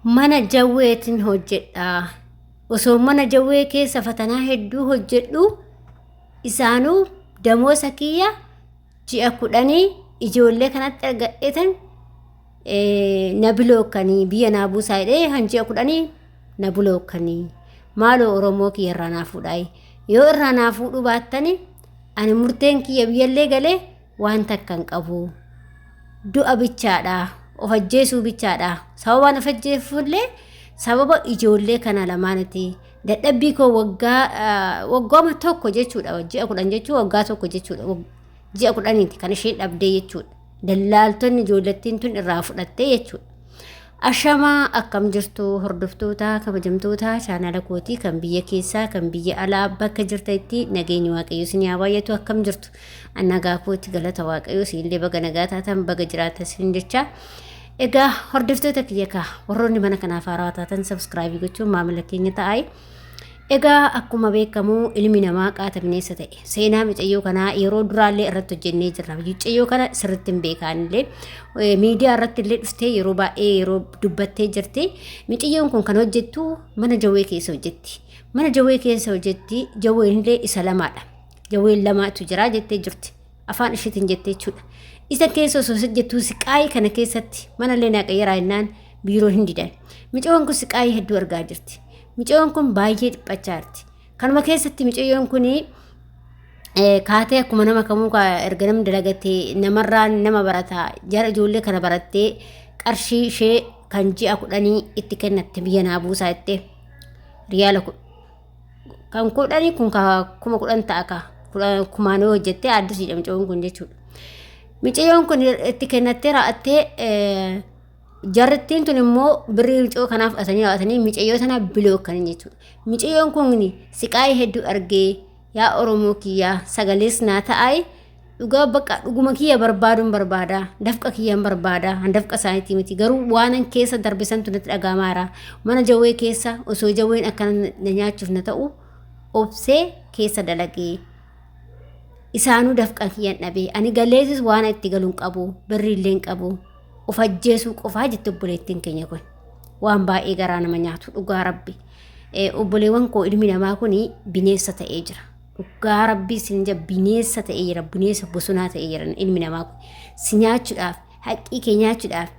mana jawweetiin hojjedha osoo mana jawwee keessa fatanaa hedduu hojjedhu isaanuu damoosa kiyya ji'a kudhanii ijoollee kanatti argadheetan na bilookkanii biyya naa buusaa jedhee kan ji'a kudhanii na bilookkanii maaloo oromoo kiyya irraa naa fuudhaayi yoo irraa naa fuudhuu baattani ani murteen kiyya biyyallee galee waan takka hin qabu du'a bichaadha of ajjeesuu bichaadha sababaan of ajjeefullee sababa ijoollee kana lamaaniti dadhabbii koo waggaa waggooma tokko jechuudha ji'a kudhan jechuu waggaa tokko jechuudha ji'a kudhaniiti kan isheen dhabdee jechuudha dallaaltonni ijoollettiin tun irraa fudhattee jechuudha Ashamaa akkam jirtu hordoftoota kabajamtoota chaanala kootii kan biyya keessaa kan biyya alaa bakka jirtanitti nageenyi waaqayyoo isin haa baay'atu akkam jirtu annagaa kootti galata waaqayyoo siinillee baga nagaa taatan baga jiraatan siin jecha egaa hordoftoota kiyya kaa warroonni mana kanaaf haaraa taatan sabskraabii gochuun maamila keenya ta'aa Egaa akkuma beekamu ilmi namaa qaata bineensa ta'e. Seenaa micayyoo kanaa yeroo duraallee irratti hojjennee jirra. Micayyoo kana sirriitti hin beekaanillee miidiyaa irratti illee dhuftee yeroo baay'ee yeroo dubbattee jirti. Micayyoon kun kan hojjettu mana jawwee keessa hojjetti. Mana jawwee keessa hojjetti jawween illee isa lamaadha. Jawween lamaatu jira jettee jirti. afaan ishiitiin jette jechuudha. Isa keessa osoo hojjettuu siqaayii kana keessatti mana illee naaqayyaraa jennaan biiroo hin didan. Micoon kun siqaayii hedduu argaa jirti. Micoon kun baay'ee dhiphachaa jirti. Kanuma keessatti micoon kun kaatee akkuma nama kamuu erga namni dalagatee namarraan nama barataa jara ijoollee kana barattee qarshii ishee kan ji'a kudhanii itti kennatte biyya naa buusaa jettee riyaala kan kudhanii kun kuma kudhan ta'a ka kumaan yoo hojjettee addisiidha mucayyoon kun jechuudha. Mucayyoon kun itti kennattee raa'attee jarrittiin tun immoo birrii mucayyoo kanaaf asanii raa'atanii mucayyoo sana bilookkanii jechuudha. Mucayyoon kun siqaayii hedduu argee yaa Oromoo kiyyaa sagalees naa ta'aayii. dhugaa bakka dhuguma kiyya barbaaduun barbaada dafqa kiyyaan barbaada handafqa isaaniitii miti garuu waanan keessa darbisantu natti dhagaamaara mana jawwee keessa osoo jawween akkana na nyaachuuf na ta'u obsee keessa dalagee isaanuu dafqan kiyyan dhabee ani galeessis waan itti galuun qabu birrii illee hin qabu of ajjeesuu qofaa jette obboleettiin keenya kun waan baay'ee garaa nama nyaatu dhugaa rabbi obboleewwan koo ilmi namaa kun bineensa ta'ee jira Dhugaa rabbii sin jira bineessa ta'ee jira bineessa bosonaa ta'ee jira ilmi namaa kun si nyaachuudhaaf haqqii kee nyaachuudhaaf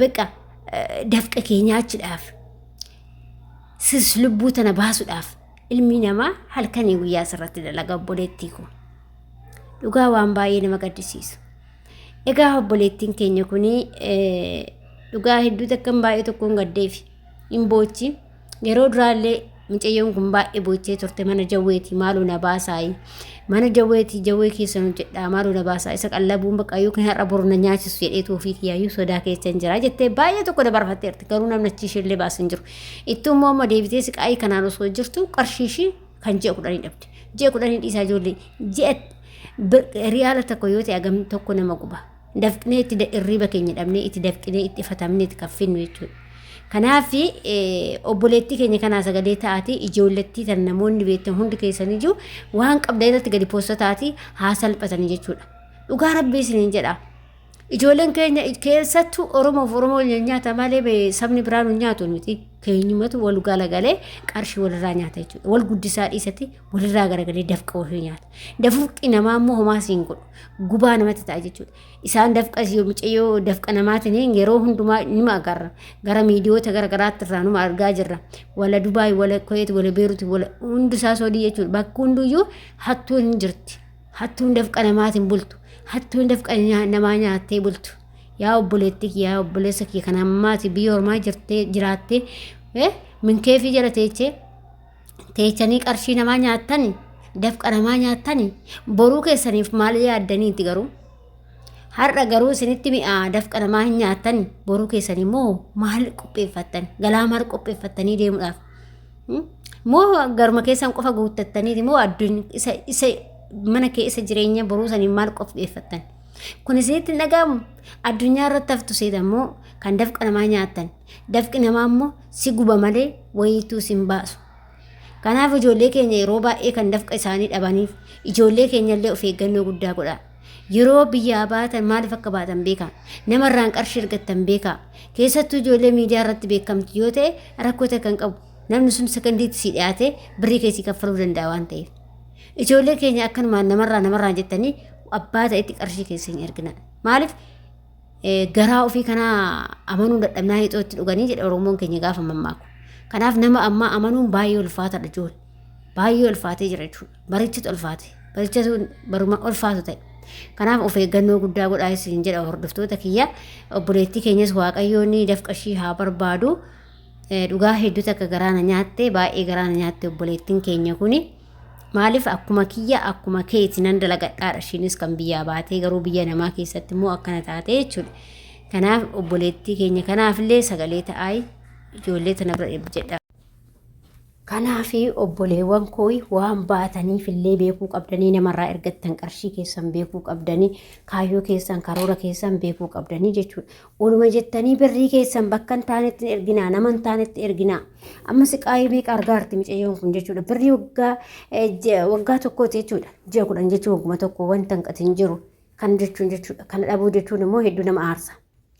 baqa dafqa kee nyaachuudhaaf sis lubbuu tana baasuudhaaf ilmi namaa halkanii guyyaa sirratti dalaga obboleettii kun dhugaa waan baay'ee nama gaddisiisu. Egaa obboleettiin keenya kun dhugaa hedduu takkan baay'ee tokkoon gaddeefi hin boochi. Yeroo duraallee mucayyoon kun baay'ee boochee turte mana jawweeti maaloo na baasaayi. Mana jawweeti jawwee keessa nu jedhaa maaloo na baasaa isa qallabuun bakka yookiin har'a boru na nyaachisu jedhee tuufii kiyaayyuu sodaa keessa hin jira jettee baay'ee tokko dabarfatteerti garuu namni achi ishee illee baasan jiru. Ittuu immoo amma deebitee siqaayii kanaan osoo jirtu qarshii ishii kan ji'a kudhanii dhabde. Ji'a kudhanii dhiisaa ijoollee ji'a riyaala tokko yoo ta'e agam tokko nama guba. dafqnee itti da- irriiba keenya dhabnee itti dafqinee itti fatamnee itti kaffinnu jechuudha. Kanaaf eh, obboleettii keenya kanaa sagalee ta'aati ijoollettii tan namoonni beektan hundi keessan ijuu waan qabda irratti gadi poosta ta'aati haa salphatanii jechuudha. Dhugaa rabbii isiniin jedha. Ijoolleen keenya keessattuu Oromoof Oromoo nyaata malee bee- sabni biraa nu nyaatu miti. Keenyumatu wal galagalee qarshii walirraa nyaata jechuudha. Wal guddisaa dhiisati walirraa garagalee dafqa ofii nyaata. Dafqi namaa immoo homaa siin godhu. Gubaa namatti ta'a jechuudha. Isaan dafqa yoo micayyoo dafqa namaatiin yeroo hundumaa nima agarra. Gara miidiyoota gara garaatti irraa numa argaa jirra. Wala Dubaay, wala Kuweet, wala Beerut, wala hundusaa soodii jechuudha. Bakka hunduyyuu hattuun hin jirti. Hattuun dafqa namaatiin bultu. Hattuun dafqa nyaa- namaa nyaattee bultu. Yaa obboleetti kiyya, yaa obboleessa kiyya kan ammaati biyya ormaa jirtee jiraattee eh, minkeefii jala teechee teechanii qarshii namaa nyaattani dafqa namaa nyaattani boruu keessaniif maal yaaddaniiti garuu har'a garuu isinitti mi'aa dafqa namaa hin nyaattani boruu keessanii moo maal qopheeffattan galaa maal qopheeffattanii deemuudhaaf Hmm? moo garuma keessan qofa guuttattaniiti moo addunyaa isa isa mana kee isa jireenya boruu saniin maal qopheeffattan kun isinitti hin dhaga'amu addunyaa irratti haftu seetan moo kan dafqa namaa nyaattan Dafqi namaa immoo si guba malee wayiituu sin baasu. Kanaaf ijoollee keenya yeroo baay'ee kan dafqa isaanii dhabaniif ijoollee keenyallee of eeggannoo guddaa godhaa. Yeroo biyyaa baatan maaliif akka baatan beekaa. Namarraan qarshii argattan beekaa. Keessattuu ijoollee miidiyaa irratti beekamtu yoo ta'e rakkoo ta'e kan qabu. Namni sun sekondiitti si dhiyaatee birrii keessii kaffaluu danda'a waan ta'eef. Ijoollee keenya akkanumaan namarraa namarraa jettanii abbaa ta'etti qarshii keessa hin ergina. Maaliif garaa ofii kanaa amanuu dadhabnaa hixoo itti dhuganii jedha Oromoon keenya gaafa mammaaku. Kanaaf nama ammaa amanuun baay'ee ulfaataadha joon. Baay'ee ulfaatee jira jechuudha. Barichatu ulfaate. Barichatu baruma ulfaatu ta'e. Kanaaf of eeggannoo guddaa godhaa isin jedha hordoftoota kiyya. Obboleettii keenyas waaqayyoon dafqa ishii haa barbaadu. Dhugaa hedduu takka garaana nyaatte baay'ee garaana nyaatte obboleettiin keenya kuni. Maaliif akkuma kiyya akkuma keeti nan dalagadhaadha ishiinis kan biyyaa baatee garuu biyya namaa keessatti immoo akkana taatee jechuudha. Kanaaf obboleettii keenya kanaafillee sagalee ta'aayi ijoollee tana bira dhibbi jedha. Kanaaf obboleewwan koo waan baataniif illee beekuu qabdanii namarraa ergattan qarshii keessan beekuu qabdanii kaayyoo keessan karoora keessan beekuu qabdanii jechuudha. Oluma jettanii birrii keessan bakka hin taanetti hin erginaa, nama hin taanetti erginaa. Amma siqaayii meeqa argaa jirti micayyoon kun jechuudha. Birrii waggaa eh, je- waggaa tokkooti jechuudha. Ji'a kudhan jechuun wagguma tokko wanta hin qatin jiru. Kan jechuun jechuudha. Kana dhabuu jechuun immoo hedduu nama aarsa.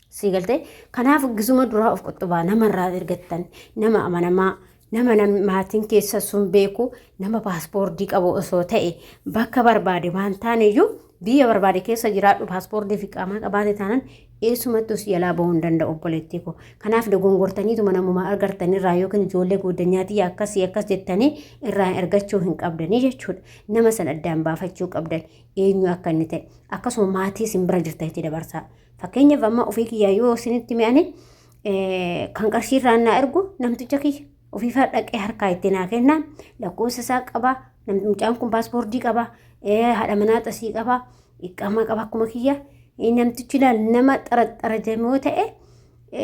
Sii galtee kanaaf gisuma duraa of qottobaa namarraa ergattan nama amanamaa Nama nam- maatiin keessa sun beeku nama paaspoortii qabu osoo ta'e bakka barbaade waan taane iyyuu biyya barbaade keessa jiraadhu paaspoortii fi qaamaa qabaate taanan eessumattuu si jalaa bahuu hin danda'u obboleettii koo. Kanaaf dogongortaniituma namuma argartan irraa yookiin ijoollee gooddanyaatii akkasii akkas jettanii irraa ergachuu hin qabdanii jechuudha. Nama san addaan baafachuu qabdan eenyu akka inni ta'e akkasuma maatii isin bira jirtanitti dabarsaa. Fakkeenyaaf amma ofii kiyyaa yoo isinitti mi'ane kan qarshii irraa naa ergu namticha kiyya ofiifaa dhaqee harkaa itti naa kenna lakkoofsa isaa qaba mucaan kun paaspoortii qaba haadha manaa xasii qaba iqaamaa qaba akkuma kiyya namtichi laal nama xaraxara jedhamoo ta'e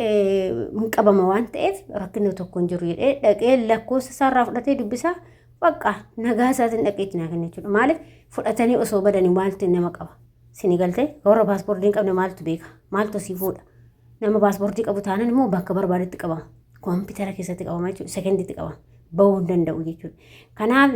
hin qabama waan ta'eef rakkina tokko hin jiru jedhee dhaqee lakkoofsa isaa irraa fudhatee dubbisaa baqqaa nagaa isaatiin dhaqee itti naa kenna jechuudha maaliif fudhatanii osoo badanii maaltu nama qaba. Sini galte warra paaspoortii hin qabne maaltu beeka? Maaltu si fuudha? Nama paaspoortii qabu taanan immoo bakka barbaadetti qabama. Koompitara keessatti qabama jechuudha. Sekenditti qabama. Bahuu hin danda'u jechuudha. Kanaaf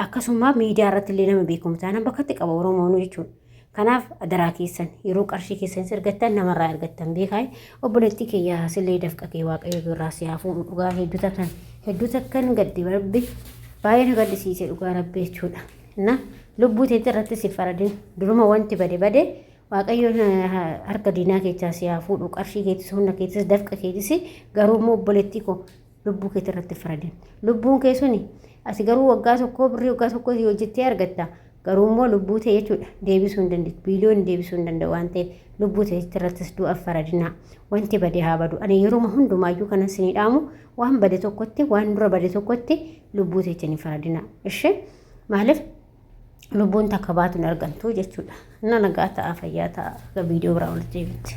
akkasuma miidiyaa irratti illee nama beekamu taanan bakkatti qaba Oromoonu jechuudha. Kanaaf adaraa keessan yeroo qarshii keessan ergattan namarraa ergattan beekaa obboleettii kiyyaa sillee dafqa kee waaqayyo birraa si haafuu dhugaa hedduu takkan hedduu takkan gaddi rabbi baay'ee na gaddisiise dhugaa rabbi jechuudha. na lubbuu teeti irratti si faradin duruma wanti bade bade waaqayyoon harka diinaa keechaa si haa fuudhu qarshii keetis humna keetis dafqa keetis garuu immoo obboleettii koo lubbuu keeti irratti faradin lubbuun kee suni asi garuu waggaa tokkoo birrii waggaa tokkoo si hojjettee argatta garuu immoo lubbuu ta'e jechuudha deebisuu hin dandeessu biiliyoon deebisuu hin danda'u waan ta'eef lubbuu ta'etti irrattis du'aaf faradinaa wanti bade haa badu ani yeruma hundumaayyuu kanan sinii dhaamu waan bade tokkotti waan dura bade tokkotti lubbuu teetiin hin faradina ishee maaliif lubbuun takka baatu hin argamtu jechuudha na nagaa ta'a fayyaa ta'a viidiyoo biraa walitti deebitti.